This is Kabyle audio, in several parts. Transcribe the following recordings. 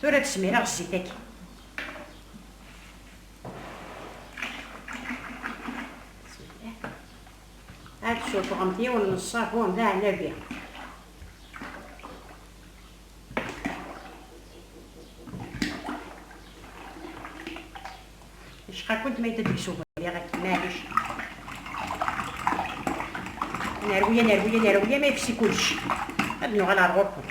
Tura ad smireɣ zzit-agi. Ad tsuffɣemt yiwen n ṣṣabun d aɛlabi. Yecqa-kent ma yedda deg-s ubelliɣ akken, maɛlic. Nerwi, nerwi, nerwi, ma yefsi kullec. Ad nuɣal ar ɣur-kent.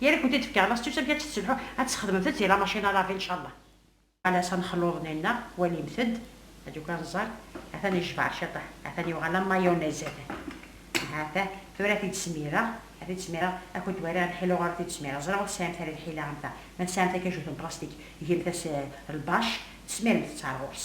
Yal akud i d-fkeɣ la s-tt-usa mi ad tt-tesselḥu ad tesxedmemt-tt di lamacin alavi ncallah. Ala s ad nxellu uḍnenneɣ, walimt-d, ad yuki anẓar, atan yejbeṛ ciṭuḥ, atan yuɣ ala mayonnaise atan, hata, tura ad t-id-smireɣ, ad t-id-smireɣ, akud wari ar lḥila uɣur ad t-id-smireɣ, ẓriɣ ur tesɛimt ara lḥila am ta, ma tesɛimt akajut n plastik, gemt-as lbacc, tesmirem-t-tt ar ɣur-s.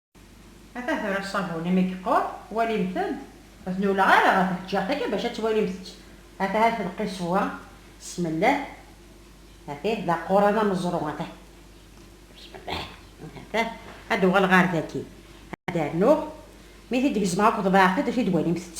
Ata tura ṣṣabun imi yeqqur, walimt-d. Ur ten-ulleɣ ara ɣer tleǧǧaɣt akka bac ad twalimt-tt. Ata ha tenqi ṣṣwa, smellah, ata d aquran ameẓru, ata, smellah, ata, ad d-uɣaleɣ ɣer dagi, ad d-rnuɣ, mi t-id-gezmeɣ akked baɛfed, ad t-id-walimt-tt.